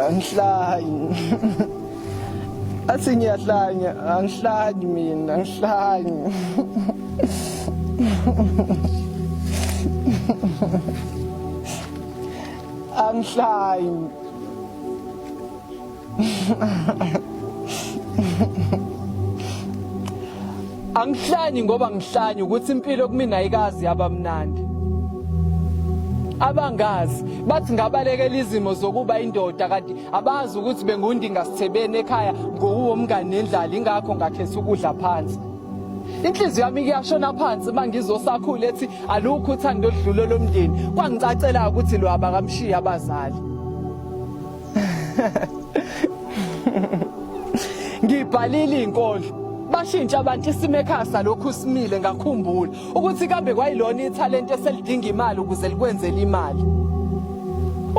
angihlanyi athi ngiyahlanya angihlanyi mina angihlanyi angihlanyi Angihlanyi ngoba ngihlanyi ukuthi impilo kumina ayikazi yabamnandi. abangazi bathi ngabalekela izimo zokuba indoda kanti abazi ukuthi bengundinga sithebeni ekhaya ngowuwo mngane nendlala ingakho ngakhetha ukudla phansi inhliziyo yami kuyashona phansi uma ngizosakhula ethi alukho uthando oludlule lomndeni kwangicacela ukuthi lo abakamshiyi abazali ngibhalile inkondlo bashintsha abantu isimo ekhaya salokhu simile ngakhumbula ukuthi kambe kwayilona ithalente eselidinga imali ukuze likwenzele imali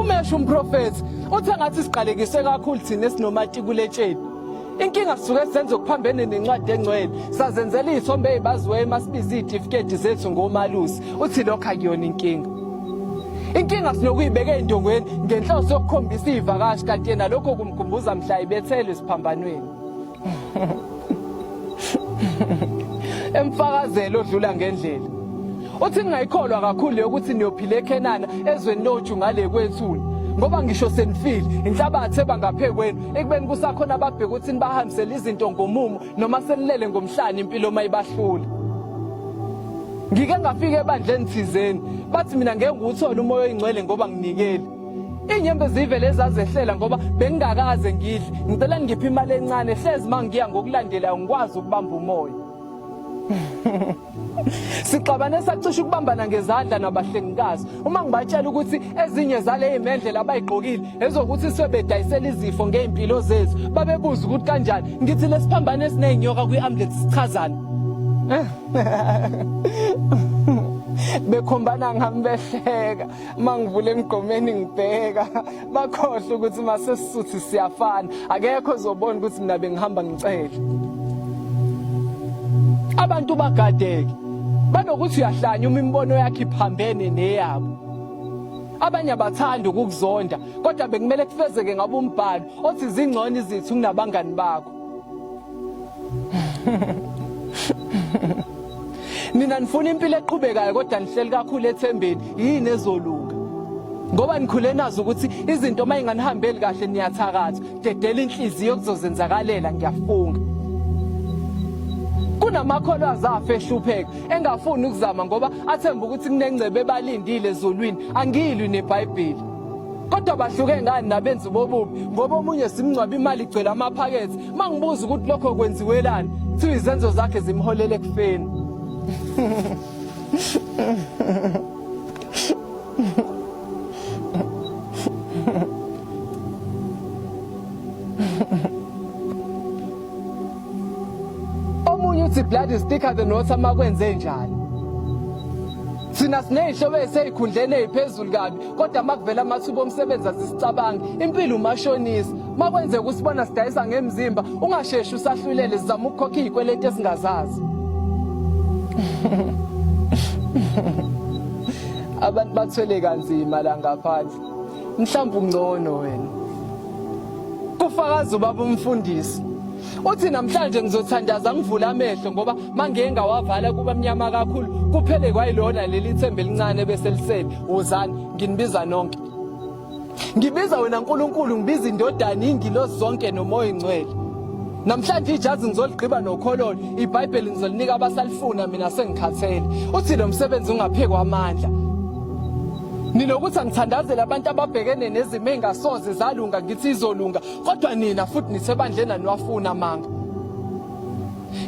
umesho umprofethi uthe ngathi siqalekiswe kakhulu thina esinomatikuletsheni inkinga sisuke senza okuphambene nencwadi engcwele sazenzela iy'thombe ey'baziweyo uma sibiza iy'tifiketi zethu ngomalusi uthi lokho akuyona inkinga inkinga sinokuyibeka ey'ndongweni ngenhloso yokukhombisa iy'vakashi kanti yena lokho kumkhumbuza mhla ibethelwe esiphambanweni emfakazelo odlula ngendlela Uthi ningayikholwa kakhulu yokuthi niyophila eKhenana ezweni loju ngale kwethuna ngoba ngisho senifile inhlabathi ebangaphe kwenu ekubeni kusakhona ababheka ukuthi nibahambisele izinto ngomumo noma senilele ngomhlane impilo uma ibahlula ngike ngafika ebandleni thizeni bathi mina ngeke ngiwuthole umoya oyingcwele ngoba nginikele inyembe zivele ezazehlela ngoba bengingakaze ngidle ngicela ngiphe imali encane hlezi mangiya ngokulandelayo ngikwazi ukubamba umoya Sixabane sacisha ukubambana ngezandla nabahlengikazi uma ngibatshela ukuthi ezinye zaleyi mendlela abayigqokile ezokuthi sebedayisela izifo ngey'mpilo zethu babebuza ukuthi kanjani ngithi lesiphambano esiney'nyoka kwi-ambulensi sichazani bekhombana ngami behleka uma ngivula emgqomeni ngibheka bakhohle ukuthi masesisuthi siyafana akekho ozobona ukuthi mina bengihamba ngicele abantu bagadeke banokuthi uyahlanya uma imibono yakhe iphambene neyabo abanye abathanda ukukuzonda kodwa bekumele kufezeke ngabe umbhalo othi zingcono izithu kunabangani bakho nina nifuna impilo eqhubekayo kodwa nihleli kakhulu ethembeni yini ezolunga ngoba nikhule nazo ukuthi izinto uma inganihambeli kahle niyathakatha dedela inhliziyo kuzozenzakalela ngiyafunga kunamakholwa azafa ehlupheka engafuni ukuzama ngoba athemba ukuthi kunengcebe ebalindile ezulwini angilwi nebhayibheli kodwa bahluke ngani nabenzi bobubi ngoba omunye simngcwaba imali igcwele amaphakethe mangibuza ukuthi lokho kwenziwelani kuthiwa izenzo zakhe zimholele ekufeni omunye uthi blood is thicker than water makwenze njani thina siney'hlobo eseyikhundleni ey'phezulu kabi kodwa makuvela amathuba omsebenzi asisicabangi impilo umashonisa makwenzeka usibona sidayisa ngemzimba ungasheshi usahlulele sizama ukukhokha izikweleti esingazazi abantu bathwele kanzima la ngaphandle mhlawumbe ungcono wena kufakaza ubaba umfundisi uthi namhlanje ngizothandaza ngivule amehlo ngoba mangiye ngawavala kuba mnyama kakhulu kuphele kwayilona leli themba elincane bese lisele wozani nginibiza nonke ngibiza wena nkulunkulu ngibiza indodana ingilosi zonke nomoya ingcwele namhlanje ijazi ngizoligqiba nokhololo ibhayibheli ngizolinika abasalifuna mina sengikhathele uthi lo msebenzi ungaphekwa amandla nilokuthi angithandazele abantu ababhekene nezimo engasoze zalunga ngithi izolunga kodwa nina futhi nisebandleni aniwafuna amanga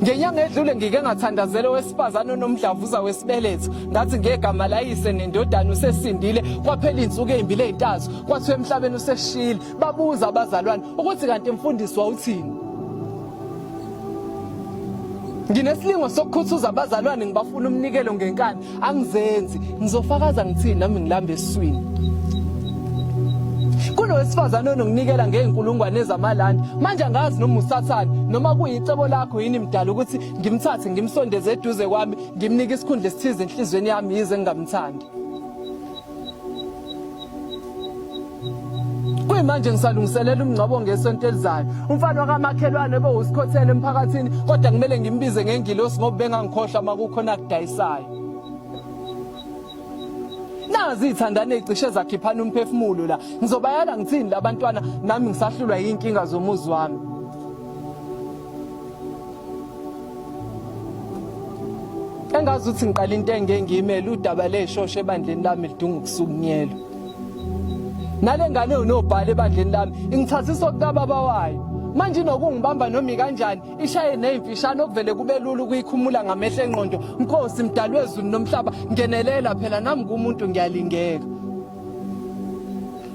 ngenyanga edlule ngike ngathandazela owesifazane onomdlavuza wesibeletho ngathi ngegama layise nendodana usesindile kwaphela insuku ezimbili ezintathu kwathiwa emhlabeni useshile babuza abazalwane ukuthi kanti mfundisi wawuthini nginesilingo sokukhuthuza abazalwane ngibafuna umnikelo ngenkani angizenzi ngizofakaza ngithini nami ngilamba eswini kunowesifazane ononginikela ngey'nkulungwane ezamalandi manje angazi noma usathane noma kuyicebo lakho yini mdala ukuthi ngimthathe ngimsondeze eduze kwami ngimnike isikhundla esithize enhliziyweni yami yize ngingamthandi Kuyimanje ngisalungiselela umngcwabo ngesonto elizayo. Umfana wakamakhelwane obewusikhothele emphakathini kodwa kumele ngimbize ngengilosi ngoba bengangikhohlwa makukhona akudayisayo. Nazi ithandane icishe zakhiphana umphefumulo la. Ngizobayala ngithini labantwana nami ngisahlulwa yinkinga zomuzi wami. engazi ukuthi ngiqala into engengiyimele udaba leshosha ebandleni lami lidunga ukusukunyelwa nale ngane unobhala ebandleni lami ingithathisa okukababa wayo manje inokungibamba noma ikanjani ishaye nezimfishane okuvele kube lula ukuyikhumula ngamehlo enqondo nkosi mdalwezulu nomhlaba ngenelela phela nami kumuntu ngiyalingeka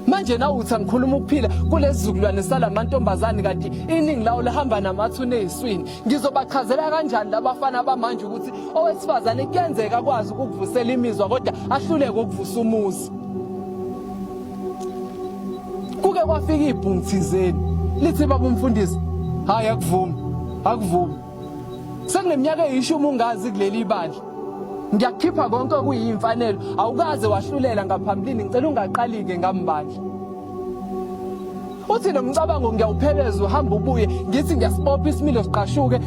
manje na uthi angikhuluma ukuphila kulezizukulwane salamantombazane kanti iningi lawo lihamba namathuna eziswini ngizobachazela kanjani labafana abamanje ukuthi owesifazane kuyenzeka akwazi ukuvusela imizwa kodwa ahluleke ukuvusa umuzi kuke kwafika ibhungu thizeni lithi baba umfundisi hayi akuvumi akuvumi Sekuneminyaka eyishumi ungazi kuleli bandla. Ngiyakukhipha konke okuyimfanelo. Awukaze wahlulela ngaphambilini ngicela ungaqalike ngambandla. Uthi nomcabango ngiyawupheleza uhamba ubuye ngithi ngiyasibopha isimilo siqashuke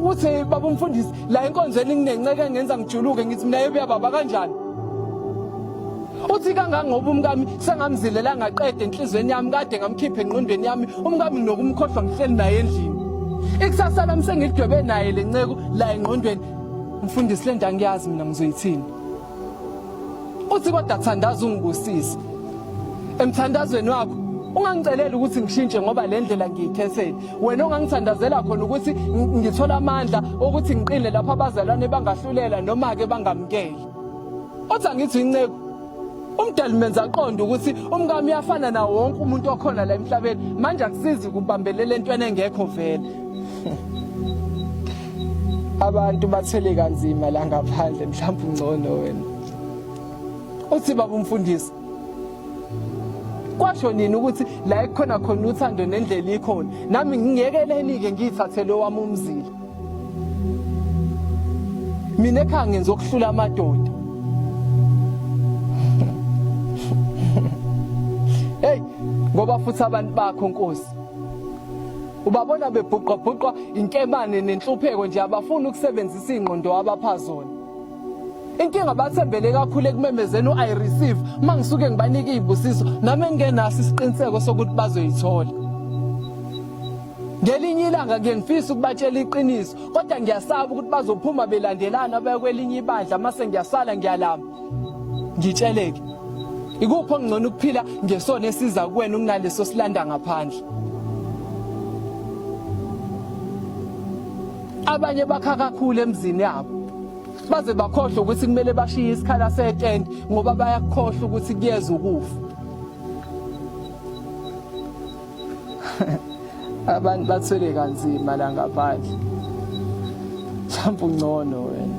uthi baba umfundisi la enkonzweni nginenceke ngenza ngijuluke ngithi mina yebuyababa kanjani Uthi kangangoba umkami sengamzilela ngaqede enhlizweni yami kade ngamkhipha enqondweni yami umkami nokumkhohlwa ngihleli naye endlini. Ikusasa lami sengidwebe naye lenceku la enqondweni. Mfundisi lento angiyazi mina ngizoyithini. Uthi kodwa thandaza ungibusise. Emthandazweni wakho ungangiceleli ukuthi ngishintshe ngoba le ndlela ngiyikhethele wena ongangithandazela khona ukuthi ngithola amandla okuthi ngiqine lapho abazalwane bangahlulela noma-ke bangamukele Othi angithi inceku umdali menza aqonde ukuthi umkami uyafana nawo wonke umuntu okhona la emhlabeni manje akusizi kubambelela entweni engekho vele abantu bathele kanzima la ngaphandle mhlawumbe ungcono wena uthi baba umfundisi kwasho nini ukuthi la ekhona khona uthando nendlela ikhona nami ngiyekeleni-ke ngiyithathele owami umzila mina ekhaya ngenza okuhlula amadoda hey ngoba futhi abantu bakho nkosi ubabona bebhuqabhuqwa inkemane nenhlupheko nje abafuni ukusebenzisa ingqondo abapha zona inkinga bathembele kakhulu ekumemezeni u-i receive uma ngisuke ngibanike iy'busiso nami engingenaso isiqiniseko sokuthi bazoyithola Ngelinye ilanga ke ngifisa ukubatshela iqiniso kodwa ngiyasaba ukuthi bazophuma belandelana baya kwelinye ibandla mase ngiyasala ngiyalama. Ngitsheleke. Ikupho ngcono ukuphila ngesona esiza kuwena kunaleso silanda ngaphandle. Abanye bakha kakhulu emzini yabo. Baze bakhohlwe ukuthi kumele bashiye isikhala setende ngoba bayakhohlwa ukuthi kuyeza ukufa. abantu bathwele kanzima la ngaphandle mhlawumbe ungcono wena